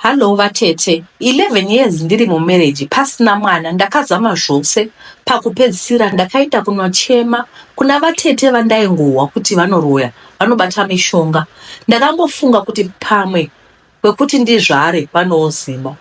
Hallo vatete 11 years ndiri mumarriage pasina mwana ndakazama zvose pakupedzisira ndakaita kunochema kuna vatete vandaingohwa kuti vanoroya vanobata mishonga ndakangofunga kuti pamwe kwekuti ndizvare vanooziva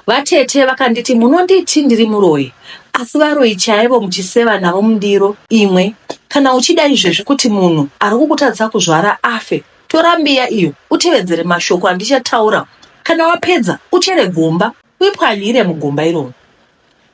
vatete vakanditi munonditi ndiri muroyi asi varoyi chaivo muchiseva navo mundiro imwe kana uchida izvezvi kuti munhu ari kukutadza kuzvara afe Tora mbiya iyo utevedzere mashoko andichataura. Kana wapedza, uchere gomba uipwanyire mugomba iroro.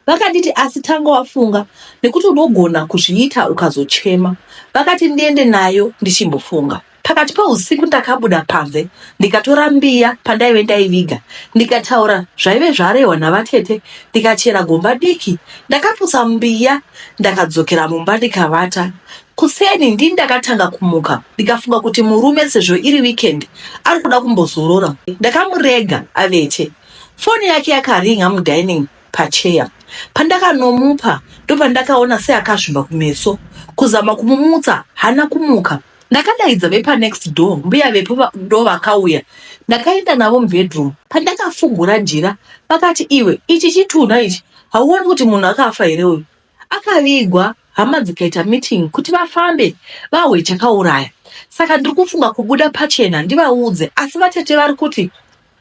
Vakanditi asi tanga wafunga nekuti unogona kuzviita ukazochema. Vakati ndiende nayo ndichimbofunga. Pakati peusiku ndakabuda panze ndikatora mbiya pandaive ndaiviga ndikataura zvaive zvarehwa navatete ndikachera gomba diki. Ndakaputsa mbiya ndakadzokera mumba ndikavata. Kuseni ndini ndakatanga kumuka ndikafunga kuti murume sezvo iri weekend ari kuda kumbozorora. Ndakamurega avete. Foni yake yakaringa mudining pacheya. Pandakanomupa ndopandakaona seakazvimba kumeso. Kuzama kumumutsa hana kumuka. Ndakadaidza vepanext door mbuya vepo va- ndovakauya. Ndakaenda navo mubedroom. Pandakafungura jira vakati iwe ichi chitunha ichi hauoni kuti munhu akafa here uyu? Akavigwa hama dzikaita meeting kuti vafambe vahwe chakauraya. Saka ndiri kufunga kubuda pachena ndivaudze asi vatete vari kuti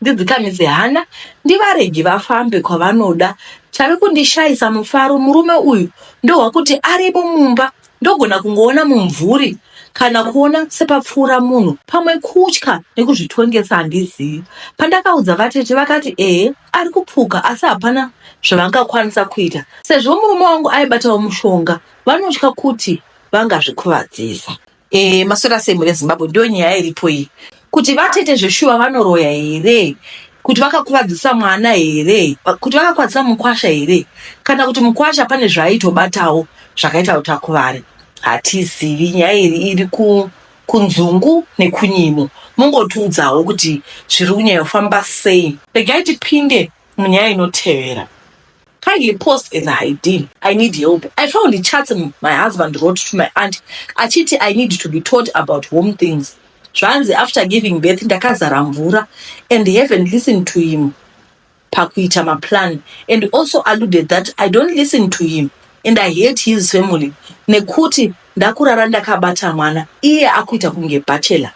ndidzikamise hana ndivarege vafambe kwavanoda. Chave kundishaisa mufaro murume uyu ndohwakuti aripo mumba ndogona kungoona mumvuri kana kuona sepapfuura munhu pamwe kutya nekuzvitongesa handizivi. Pandakaudza vatete vakati ehe ari kupfuka asi hapana zvavangakwanisa kuita sezvo murume wangu aibatawo mushonga vanotya kuti vangazvikuvadzisa e, maswera sei mune zimbabwe ndiyo nyaya iripo iyi kuti vatete zveshuwa vanoroya here kuti vakakuvadzisa mwana here kuti vakakuvadzisa mukwasha here kana kuti mukwasha pane zvaaitobatawo zvakaita kuti akuvare hatizivi nyaya iri iri ku kunzungu nekunyimo mungotiudzawo kuti zviri kunyanya kufamba sei regai tipinde munyaya inotevera kindly post as a ideal i need help i found the charts my husband wrote to my aunt achiti i need to be taught about home things zvanzi after giving birth ndakazara mvura and haven't listened to him pakuita maplan and also alluded that I don't listen to him and I hate his family nekuti ndakurara ndakabata mwana iye akuita kunge bachelor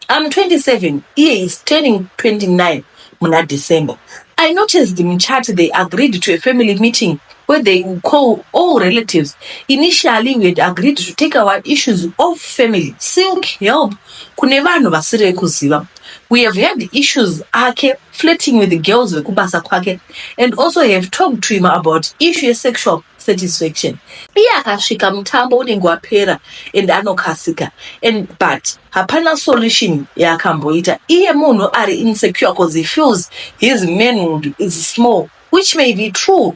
I'm 27 iye is turning 29 muna December I noticed the chat they agreed to a family meeting where they will call all relatives. Initially, we had agreed to take our issues of family, seek help kune vanhu vasiri vekuziva. we have had issues ake flirting with the girls vekubasa kwake and also have talked to him about issue yesexual satisfaction iye akasvika mutambo unenge wapera and anokasika and but hapana solution yaakamboita iye munhu ari insecure because he feels his manhood is small which may be true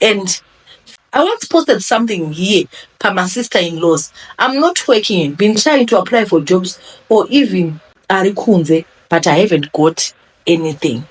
and I once posted something here pa my sister in laws I'm not working and been trying to apply for jobs or even ari kunze but I haven't got anything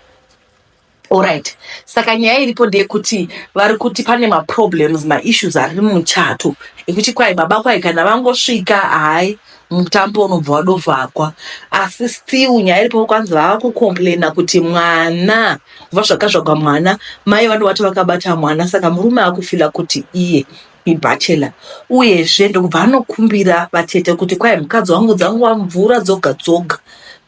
Alright. Saka nyaya iripo ndeyekuti vari kuti pane maproblems maissues ari mumuchato ekuti kwai baba kwai kana vangosvika hai mutambo unobva wadovhakwa asi still nyaya iripo kwanzi vava kucomplaina kuti mwana kubva zvakazvagwa mwana mai vanobati vakabata mwana saka murume akufila kuti iye ibachelor uyezve ndokubva anokumbira vatete kuti kwai mukadzi wangu dzanguva mvura dzoga dzoga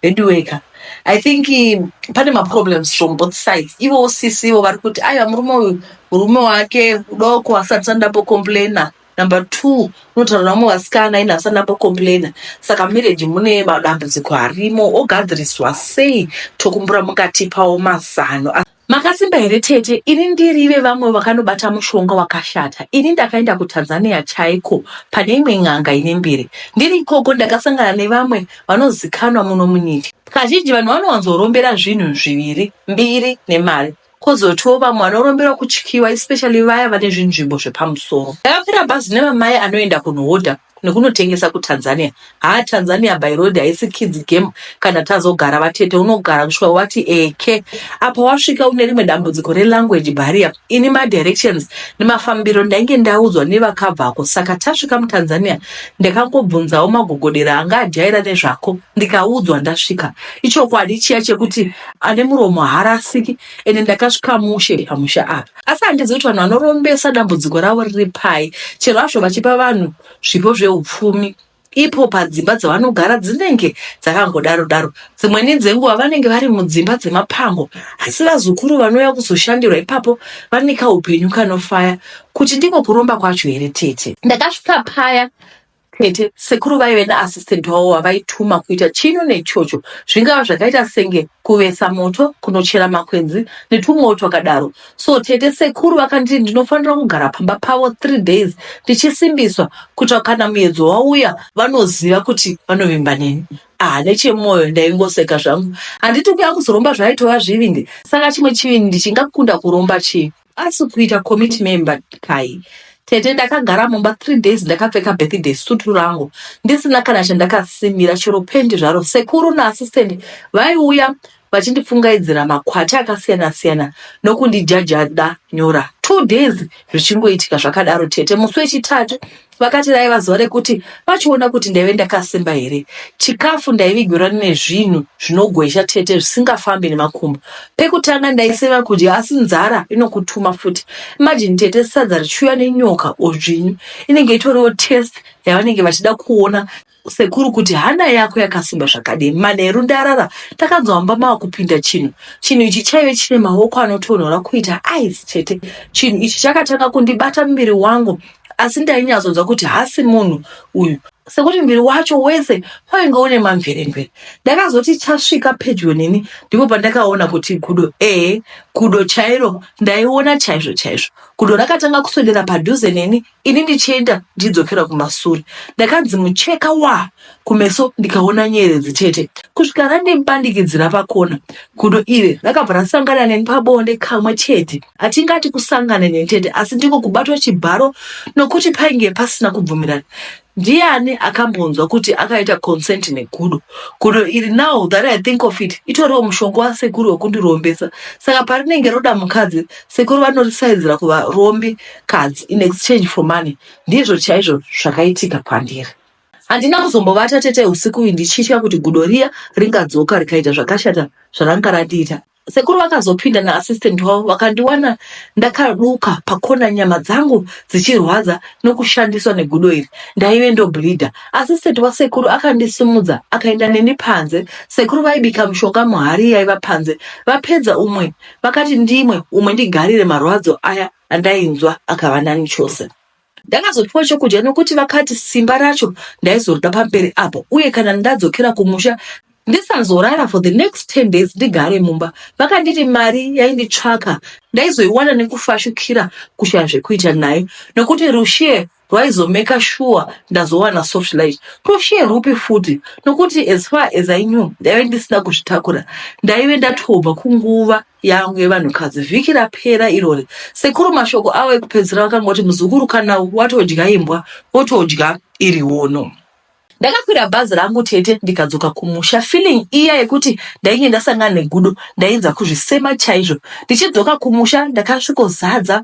veduweka i think um, pane maproblems from both sides ivo sisi ivo vari kuti aiwa murume uyu murume wake udoko asati sandapo complaina Number two, unotaura vamwe vasikana ini asana mbocomplaina saka mumarriage mune madambudziko arimo ogadziriswa sei tokumbura mukatipawo mazano Makasimba here tete ini ndiri vevamwe vakanobata mushonga wakashata ini ndakaenda kutanzania chaiko pane imwe n'anga ine mbiri ndiri ikoko ndakasangana nevamwe vanozikanwa muno munyika kazhinji vanhu vanowanzorombera zvinhu zviviri mbiri nemari Kozotiwo vamwe vanoromberwa kutyiwa especially vaya vane zvinzvimbo zvepamusoro. Ndakakwira bhazi nevamai anoenda kunohodha nekunotengesa kuTanzania. Haa Tanzania by road haisi kids game kana tazogara vatete unogara kusvika wati eke. Apa wasvika une rimwe dambudziko relanguage barrier. Ini madirections nemafambiro ndainge ndaudzwa nevakabvako saka tasvika muTanzania ndakangobvunzawo magogodera anga ajaira nezvako ndikaudzwa ndasvika. Ichokwadi chiya chekuti ane muromo haarasiki ende ndakasvika mushe pamusha apa asi handizivi kuti vanhu vanorombesa dambudziko ravo riri pai chero hazvo vachipa vanhu zvipo zveupfumi ipo padzimba dzavanogara dzinenge dzakangodaro daro dzimweni dzenguva vanenge vari mudzimba dzemapango asi vazukuru vanouya kuzoshandirwa ipapo vaneka upenyu kanofaya kuti ndiko kuromba kwacho here tete ndakasvika paya Tete, sekuru vaive naassistant wavo wavaituma kuita chino nechocho, zvingava zvakaita senge kuvesa moto, kunochera makwenzi netwumwewo twakadaro. So tete sekuru vakanditi ndinofanira kugara pamba pavo three days ndichisimbiswa kuitira kana muyedzo wauya vanoziva kuti vanovimba neni. Ah, nechemwoyo ndaingoseka zvangu. Handiti kuya kuzoromba zvaitovazvivindi, saka chimwe chivindi chingakunda kuromba chii? asi kuita committee member kai tete ndakagara mumba three days ndakapfeka birthday sutu rangu ndisina kana chandakasimira chero pendi zvaro sekuru naassistant vaiuya vachindipfungaidzira makwati akasiyana siyana nokundijajada nyora two days zvichingoitika zvakadaro tete musi wechitatu Vakati raiva zuva rekuti vachiona kuti ndaive ndakasimba here. Chikafu ndaivigirwa nezvinhu zvinogwezha tete zvisingafambi nemakumbo. Pekutanga ndaisema kudya asi nzara inokutuma futi. Imagine tete sadza richiuya nenyoka or dzvinyu. Inenge itoriwo test yavanenge vachida kuona Sekuru kuti hana yako yakasimba zvakadii manheru ndarara takanzwa mumba mava kupinda chinhu chinhu ichi chaive chine maoko anotonhora kuita ice chete chinhu ichi chakatanga kundibata muviri wangu asi ndainyatsonzwa kuti hasi munhu uyu sekuti muviri wacho wese wainge une mamveremvere ndakazoti chasvika pedyo neni ndipo pandakaona kuti gudo ee gudo chairo ndaiona chaizvo chaizvo gudo rakatanga kuswedera padhuze neni ini ndichienda ndichidzokera kumasure ndakanzi mucheka wa kumeso ndikaona nyeredzi chete kusvika randimupandikidzira pakona gudo iri rakabva rasangana neni pabonde kamwe chete hatingati kusangana neni chete asi ndiko kubatwa chibharo nokuti painge pasina kubvumirana Ndiani akambonzwa kuti akaita consent negudo? Gudo iri now that I think of it itoriwo mushonga wasekuru wekundirombesa. Saka parinenge roda mukadzi, sekuru vanorisaidzira kuvarombi kadzi in exchange for money. Ndizvo chaizvo zvakaitika kwandiri. Handina kuzombovata tete usiku uyu ndichitya kuti gudo riya ringadzoka rikaita zvakashata zvaranga randiita. Sekuru vakazopinda na assistant wavo vakandiwana ndakaduka pakona nyama dzangu dzichirwadza nokushandiswa negudo iri ndaive ndobleeder. Assistant wasekuru akandisimudza akaenda neni panze. Sekuru vaibika mushonga muhari yaiva panze vapedza umwe vakati ndimwe umwe ndigarire marwadzo aya andainzwa akava nani chose. Ndakazopiwa chokudya nokuti vakati simba racho ndaizorida pamberi apo uye kana ndadzokera kumusha ndisazorara for the next 10 days ndigare mumba. Vakanditi mari yainditsvaka ndaizoiwana nekufashukira kushaya zvekuita nayo nokuti rushiye rwaizomeka shuwa ndazowana soft light. Rushiye rwupi futi nokuti as far as I knew ndaive ndisina kuzvitakura ndaive ndatobva kunguva yangu yevanhukadzi vhiki rapera irori sekuru mashoko avo ekupedzisira vakangoti muzukuru kana watodya imbwa wotodya iri wono ndakakwira bhazi rangu tete ndikadzoka kumusha feeling iya yekuti ndainge ndasangana negudo ndainza kuzvisema chaizvo ndichidzoka kumusha ndakasvikozadza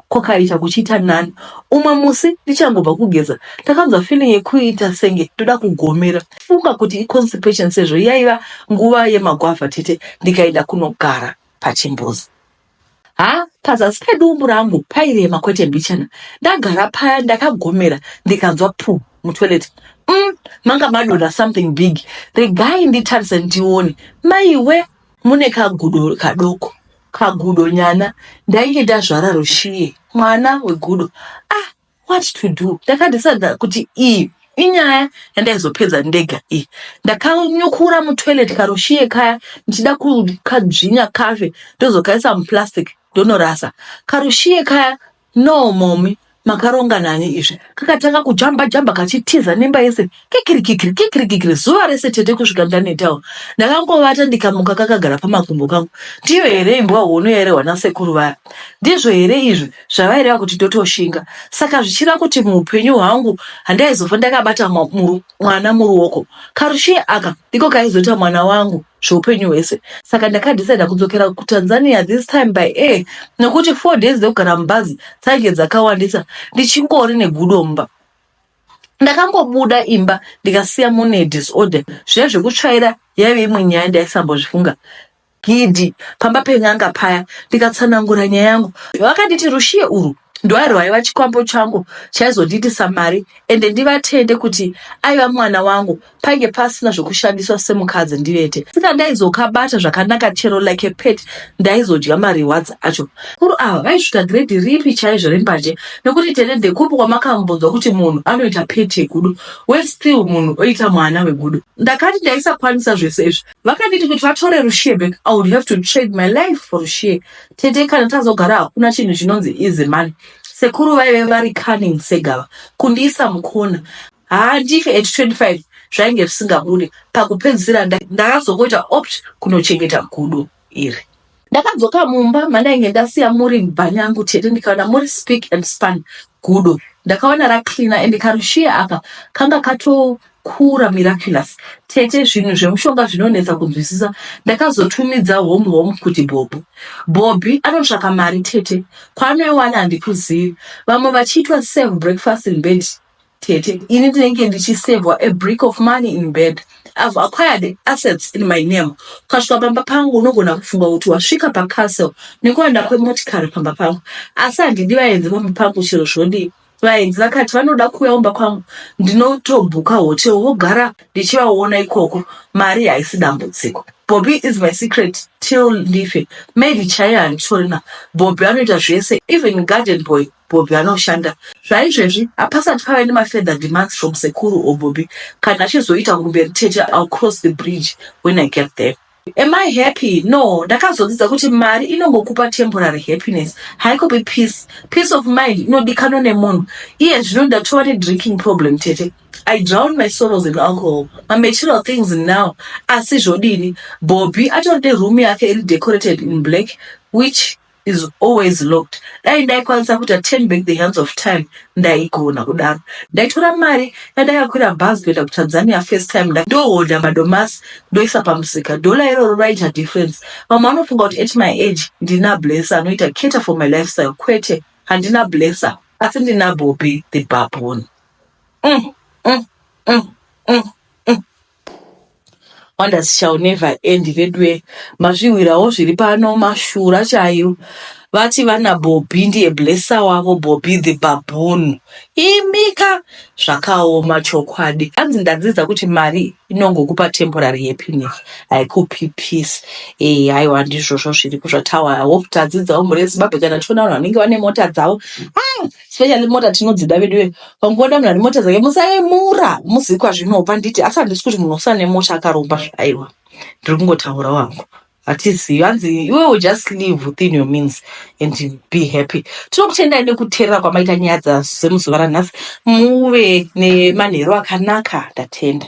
kwakaita kuchiita nani umwe musi ndichangobva kugeza ndakanzwa feeling yekuita senge ndoda kugomera funga kuti iconstipation sezvo yaiva nguva yemagwavha tete ndikaenda kunogara pachimbuzi ha pazasi pedumbu rangu pairema kwete mbichana ndagara paya ndakagomera ndikanzwa pu mutoilet mm, manga madonha something big regai nditarise ndione maiwe mune kagudo kadoko kagudo nyana ndainge ndazvara rushiye mwana wegudo ah what to do ndakadesada kuti iyi inyaya yandaizopedza ndega iyi ndakanyukura mutoilet karushiye kaya ndichida kukadzvinya kafe ndozokaisa muplastic ndonorasa karushiye kaya No mommy makaronga nani izvi. Kakatanga kujamba jamba kachitiza nemba yese kikiri kikiri kikiri kikiri zuva rese tete kusvika ndanetawo. Ndakangovata ndikamuka kakagara pamakumbo pangu. Ndiyo here imbwa hono yairehwa nasekuru vaya. Ndizvo here izvi zvavaireva kuti totoshinga. Saka zvichira kuti muupenyu hwangu handaizofa ndakabata mwa, muru, mwana muruoko. Karushiye aka ndiko kaizoita mwana wangu. zveupenyu hwese saka ndakadecida kudzokera kutanzania this time by air nekuti four days dzekugara mubhazi dzainge dzakawandisa ndichingori negudo mumba ndakangobuda imba ndikasiya mune disorder zviya zvekutsvaira yaive imwe nyaya ndaisambozvifunga gidi pamba pen'anga paya ndikatsanangura nyaya yangu vakanditi rushiye urwu ndoari hwaiva chikwambo changu chaizondiitisa mari ende ndivatende kuti aiva mwana wangu painge pasina zvekushandiswa semukadzi ndivete sika ndaizokabata zvakanaka chero like pet ndaizodya marewards acho kuru ava vaisvika gredi ripi chaizvo rembanje nekuti tende ndekupi kwamakambonzwa kuti munhu anoita pet yegudo we still munhu oita mwana wegudo ndakati ndaisakwanisa zvese izvi vakanditi kuti vatore rushie back i would have to trade my life for rushie Tete kana tazogara hakuna chinhu chinonzi easy money. Sekuru vaive vari cunning segava kundiisa mukona. Haa ndife at 25 zvainge zvisingabude. Pakupedzisira nda- ndakazongoita opt kunochengeta gudo iri. Ndakadzoka mumba mandainge ndasiya muri bhanyangu tete ndikaona muri speak and span gudo. Ndakaona racleaner and karushiya aka kanga kato Kura miraculous tete zvinhu zvemushonga zvinonetsa kunzwisisa ndakazotumidza home home kuti bhobho bhobhi anotsvaka mari tete kwaanoiwana handikuzivi vamwe vachiitwa save breakfast in bed tete ini ndinenge ndichisevwa a brick of money in bed i've acquired assets in my name ukasvika pamba pangu unogona kufunga kuti wasvika pacastle nekuwanda kwemotikari pamba pangu asi handidi vaenzi pamba pangu chero zvodii Vaenzi vakati vanoda kuuya kumba kwangu ndinotobuka hotel vogara ndichivaona ikoko mari haisi dambudziko bobby is my secret till ndife maid chaiye handitorina bobby anoita zvese even garden boy bobby anoshanda zvaizvezvi hapasati pave nemafeather demands from sekuru or bobby kana achizoita kumberi tete ill cross the bridge when i get there Am I happy? No, ndakazodzidza kuti mari inongokupa temporary happiness, haikopi peace. Peace of mind inodikanwa nemunhu. Iye zvino ndatova nedrinking problem tete. I drown my sorrows in alcohol. Mamaterial things now. Asi zvodini? Bobby atori neroom yake iri decorated in black which is always locked dai ndaikwanisa kuita turn back the hands of time ndaigona kudaro ndaitora mari yandakakwira bhazi kuenda kutanzania first time ndohodha madomasi ndoisa pamusika dhola iroro raita difference vamwe vanofunga kuti at my age ndina blesser anoita cater for my lifestyle kwete handina blesser asi ndina bobi the babon mm, mm, mm, mm, mm. wonders shall never end veduwe mazvihwirawo zviri pano mashura chaiwo vati vana bobhi ndiye blessa wavo bobhi the baboon imika zvakaoma chokwadi anzi ndadzidza kuti mari inongokupa temporary happiness haikupi peace eh haiwa ndizvozvo zviri kuzvatawa hope tadzidzawo mhuri yezimbabwe kana tichiona vanhu vanenge vane mota dzavo ah! specially mota tinodzida veduwe pangoda munhu ane mota dzake musaemura muzivi kwazvinobva nditi asi handisi kuti munhu usane mota akaromba zvaiwa ndiri kungotaura wangu hatizivi hanzi iwewo just live within your means and be happy tinokutendai nekuteerera kwamaita nyaya dzasemuzuva ranhasi muve nemanheru akanaka ndatenda